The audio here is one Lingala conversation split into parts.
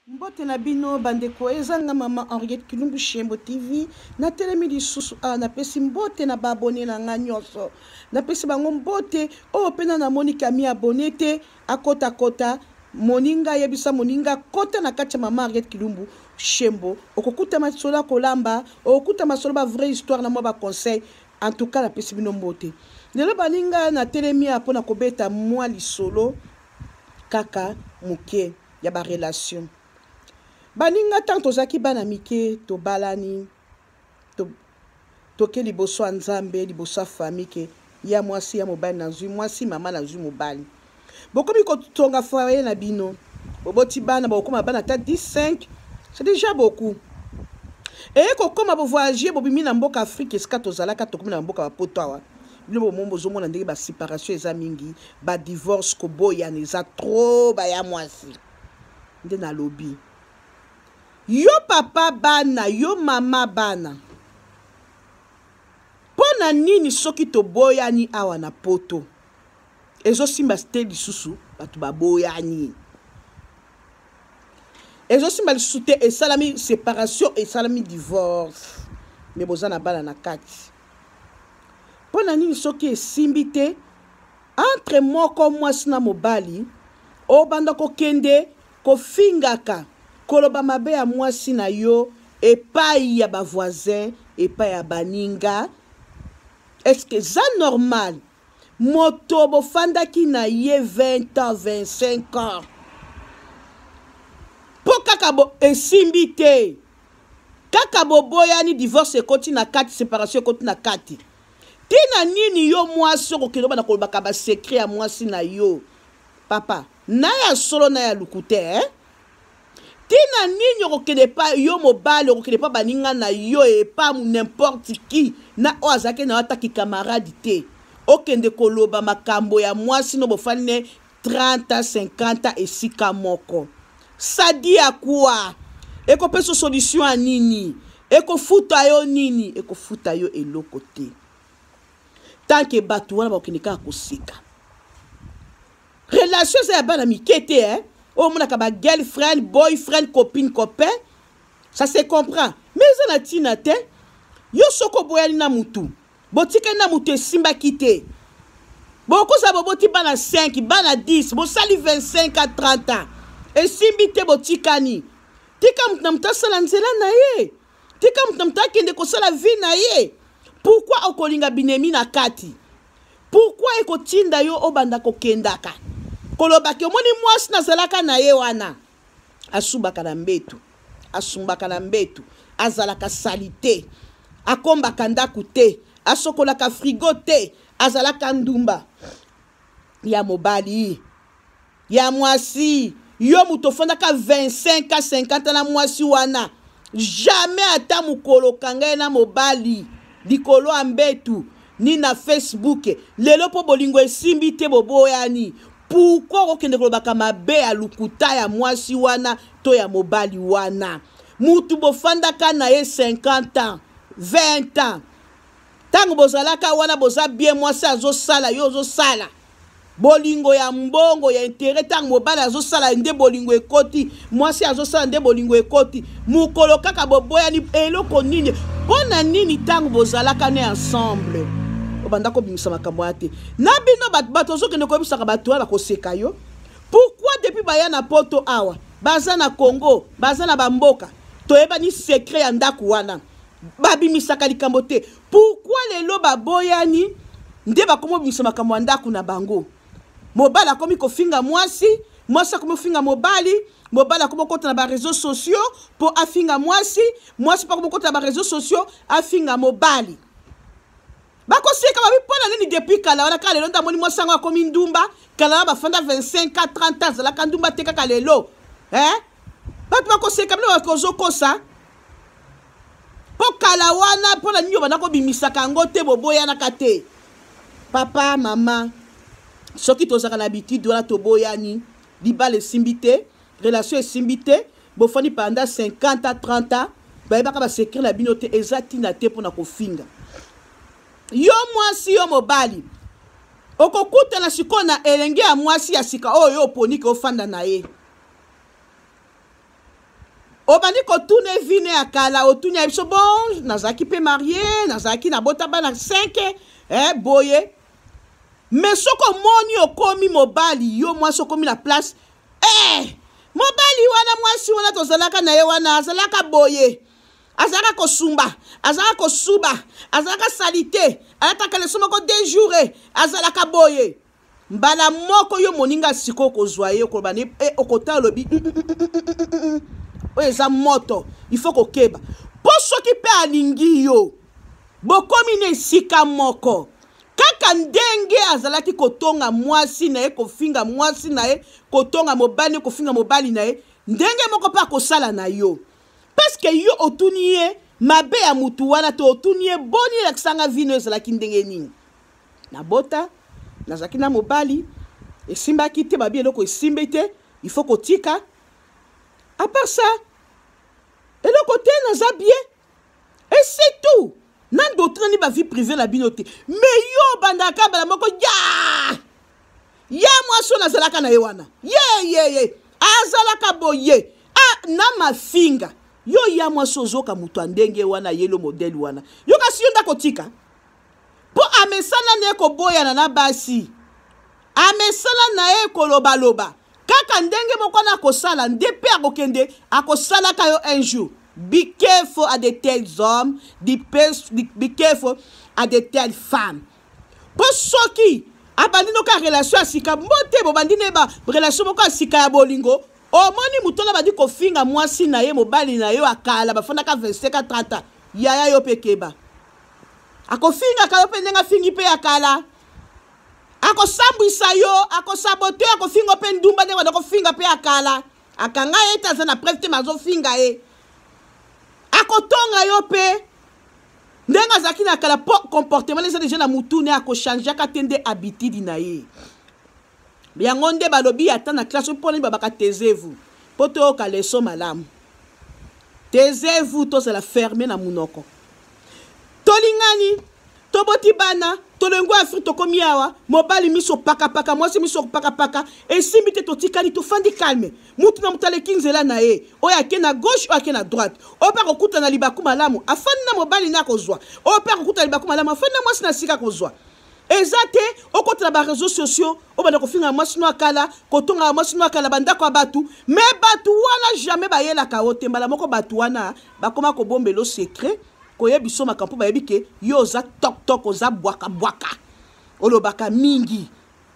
Mbote na bino bandeko, eza nga mama Henriette Kilumbu Shembo TV. Natelemi lisusu awa, napesi mbote na ba abonne na nga nyonso, napesi bango mbote. Oyo oh, pena namoni kami abonne te, akota kota moninga yebisa moninga kota na kati ya mama Henriette Kilumbu Shembo, okokuta masolo ya kolamba, okokuta masolo ba vraie histoire na mwa ba conseil. En tout cas napesi bino mbote lelo baninga, natelemi awa mpo na kobeta mwa lisolo kaka moke. ya ba relation baninga ntango tozalaki bana mike tobalani to, toke liboso ya nzambe liboso ya fami ke ya mwasi ya mobali nazwi mwasi mama nazwi mobali bokomi kotonga foye na bino boboti bana bokokoma bana ata 15 c'est déjà beaucoup eye kokoma bovoyage bobimi na mboka afrike esika tozalaka tokomi na mboka bapoto awa bino bomoni bozomona ndenge baseparation eza mingi badivorce koboyana eza tro baya mwasi nde nalobi yo papa bana yo mama bana mpo na nini soki toboyani awa na poto ezosimba te lisusu bato baboyani ezosimba lisusu te esalami separation esalami divorce me boza na bana na kati mpo na nini soki esimbi te entre moko mwasi na mobali obanda kokende kofingaka koloba mabe ya mwasi na yo epai ya bavoisin epai ya baninga eske eza normal moto bofandaki na ye 20 ans 25 ans mpo kaka bo esimbi te kaka boboyani divorce ekoti na kati separation ekoti na kati ntina nini yo mwasi okokende obana kolobaka basekre ya mwasi na yo papa na ya solo na ya lokuta eh? ntina nini okokende epa yo mobali okokende epa baninga na yo epa n'importe qui na oyo azalaki na yo ata kikamarade te okende koloba makambo ya mwasi no bofani ne 30 50 esika moko sadi ya kwa ekopesa solution ya nini ekofuta yo nini ekofuta yo eloko te tanke bato wana bakokende kaka koseka relation eza ya bana mike te eh? oyo omonaka ba girlfriend boyfriend copine copain ça se comprend mais eza na ntina te yo soki oboyani na motu botikali na motu esimbaki te bokozala boboti bana 5 bana 10 bosali 25 a 30 ans esimbi te botikani tika motu na motu asala nzela na ye tika moto na moto akende kosala vie na ye pourkui okolinga binemi na kati pourkui ekotinda yo obanda kokendaka kolobaki omoni mwasi nazalaka na ye wana asubaka na mbetu asumbaka na mbetu azalaka salite akombaka ndako te asokolaka frigo te azalaka ndumba ya mobali ya mwasi yo moto ofandaka 25 a 50 na mwasi wana jamais ata mokolo okanga ye na mobali likolo ya mbetu ni na facebook lelo mpo bolingo esimbi te boboyani pourkui okokende kolobaka mabe ya lokuta ya mwasi wana to ya mobali wana mutu bofandaka na ye 50 ans 20 ans ntango bozalaka wana boza bien mwasi azosala yo ozosala bolingo ya mbongo ya intere ntango mobali azosala nde bolingo ekoti mwasi azosala nde bolingo ekoti mokolo kaka boboyani eloko nini mpo na nini ntango bozalaka ne ensemble obanda kobimisa makambo ya te na bino bato ozokende koyebisaka bato wana koseka yo pourkui depuis baya na poto awa baza na congo baza na bamboka toyebani sekret ya ndako wana babimisaka likambo te pourkoi lelo baboyani nde bakomi obimisa makambo ya ndako na bango mobali akomi kofinga mwasi mwasi akomi kofinga mobali mobali akomi kokota na bareseau sociaux mpo afinga mwasi mwasi mpo akomi kokota na bareseau sociaux afinga mobali bakoseka babi mpo na nini depuis kala wana kaka lelo nde amoni mwasi yango akomi ndumba kala na bafanda 25 a 30 azalaka ndumba te kaka lelo eh? bato bakoseka bino bakozokosa mpo kala wana mpo na nini obanda kobimisaka yango te boboyanaka te papa mama soki tozalaka na habitude wana toboyani libala esimbi te relation esimbi te bofandi panda 50 a 30 a bayebaka basekre na bino te eza ntina te mpo na kofinga yo mwasi yo mobali okokutana sikoyo na elenge ya mwasi ya sika oyo yo oponi ke ofanda na ye obandi kotuna evine ya kala otuni ya biso bon nazalaki mpe marie nazalaki nabota bana 5 eh, boye me soki omoni okomi mobali yo mwasi okomi na place eh, mobali wana mwasi wana tozalaka na ye wana azalaka boye azalaka kosumba azalaka kosuba azalaka salite alataka leso moko dejoure azalaka boye mbala moko yo moninga sikoyo okozwa ye okoloba ne eh, okota olobi mm, mm, mm, oyo eza moto il faut kokeba mpo soki mpe alingi yo bokomi na esika moko kaka ndenge azalaki kotonga mwasi na ye kofinga mwasi na ye kotonga mobali kofinga mobali na ye ndenge moko mpe akosala na yo parceke yo otuni ye mabe ya motu wana to otuni ye boni elakisanga vino ezalaki ndenge nini nabota nazalaki na mobali esimbaki te babi eloko esimbi te il faut kotika à part ça eloko te naza bien et c'est tout na ndotrinani bavie privé na bino te mais yo obandaka bala moko ya ye mwasi oyo nazalaka na ye wana yeyeye azalaka boye ah, na mafinga yo ya mwasi ozoka moto ya ndenge wana yelo modele wana yo kasi yo nde akotika mpo amesana na ye koboyana na basi amesana na ye kolobaloba kaka ndenge moko wana akosala nde mpe akokende akosalaka yo un jour be careful at the tels hommes be, be careful at the tels femmes mpo soki abandi noka relation ya sika mbote bobandi na ye ba relation moko ya sika ya bolingo omoni moto wana abandi kofinga mwasi na ye mobali na yo akala bafandaka 25 30 yaya yo mpe keba akofingaka yo mpe ndenge afingi mpe ya kala akosambwisa yo akosabote akofinga mpe ndumba ndenge banda kofinga mpe ya kala akanga ye te aza na preve te mazofinga ye akotonga yo mpe ndenge azalaki na kala mpo comportement eza deja na mutune akochangeaka te nde habitude na ye yango nde balobi ata na classe mpo nini babaka taisez-vous mpo toyoka leso malamu taisez-vous tozala ferme na monoko tolingani toboti bana tolongo ya afrike tokomi awa mobali miso pakapaka mwasi miso pakapaka esimbi te totikali tofandi calme mutu na moto aleki nzela na ye oyo ake na gauche oyo ake na droite oyo mpe akokutana libaku malamu afandi na mobali na akozwa oyo mpe akokutana libaku malamu afandi na mwasi na sika akozwa eza te okotela bareseau sociaux obanda kofinga mwasi no ya kala kotongaka mwasi no ya kala bandako ya bato me bato wana jamais bayelaka yo te mbala moko bato wana bakoma kobombelo secret koyebi so makambo mpo bayebi ke yo oza toktok oza bwakabwaka olobaka mingi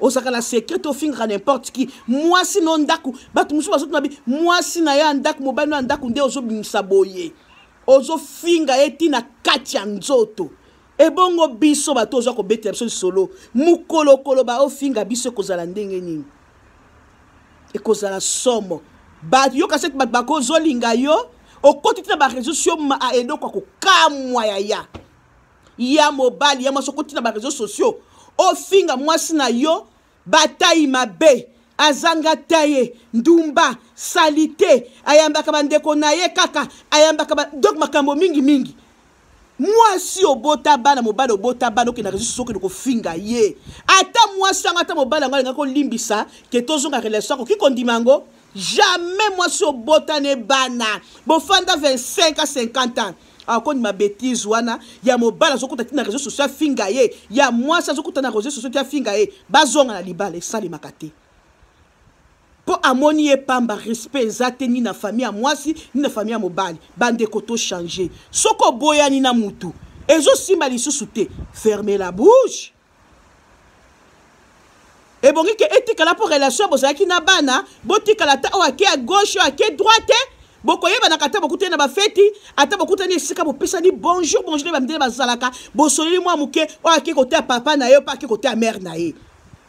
ozalaka na secret to ofingaka n'importe qui mwasi no ndako bato mosusu bazotuna bi mwasi na ye ya ndako mobali no ya ndako nde ozobimisa boye ozofinga ye ntina kati ya nzoto ebongo biso bato oza kobetela biso lisolo mokolokolo baofinga biso ekozala ndenge nini ekozala somo bayoka sete bato bakozolinga yo okoti ntina bareseau sio ah, eloko ya kokamwa yaya ya mobali ya mwasi okoti na bareseau sociaux ofinga mwasi na yo batayi mabe azanga taye ndumba salite ayambaka bandeko na ye kaka ayambaka ba... donc makambo mingi mingi mwasi obota bana mobali obota bana okenda resu soki okende kofinga ye ata mwasi yango ata mobali yango alingaki kolimbisa ke tozonga relation akoki kondima yango jamais mwasi obota ne bana bofanda 25 a 50 ans akondima betise wana ya mobali azokuta ti na réseau social afinga ye ya mwasi azokuta na réseau social ti afinga ye bazonga na libala esalemaka te mpo amoni ye pamba respect eza te ni na famille ya mwasi ni na famille ya mobali bandeko to change soki oboyani na motu ezosimba lisusu te ferme la bouche ebongi ke etikala mpo relation bozalaki na bana botikala ata oyo ake ya gauche oyo ake droite bokoyebanaka ata bokutani na bafeti ata bokutani esika bopesani bonjour bonjour nde bamidele bazalaka bosololi mwa moke oyo ake koteya papa na ye mpe ake koteya mare na ye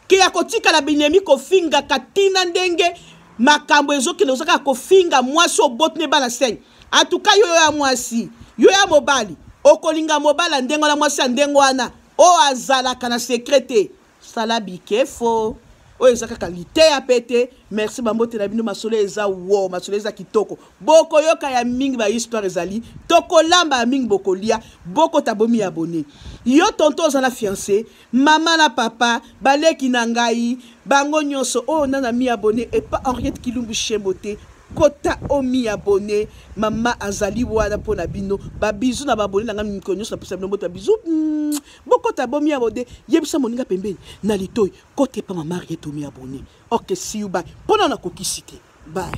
ke ya kotikala binemi kofingaka ntina ndenge makambo ezokende ozaka kofinga mwasi oboti ne bana senge atuka yo yo ya mwasi yo ya mobali okolinga mobali ya ndenge wana mwasi ya ndenge wana oyo azalaka na sekre te sala bikefo oyo eza kaka liteya mpe te merci bambote na bino masolo eza wo masolo eza kitoko bokoyoka ya mingi bahistoire ezali tokolamba ya mingi bokolia bokota bomi ya bone yo tonto oza na fiance mama na papa baleki na ngai bango nyonso oyo oh, nana mi abone epa henriette kilumbu shembo te kota omi abone mama azali wana mpo na bino babizu na baabone na ngai mikolo nyonso napesa bino mboto ya bizu mm, bokota bomi abone yebisa moninga pembeni na litoi kota epa mama rietomi abone ok siu bai mpo na nakokisi te bai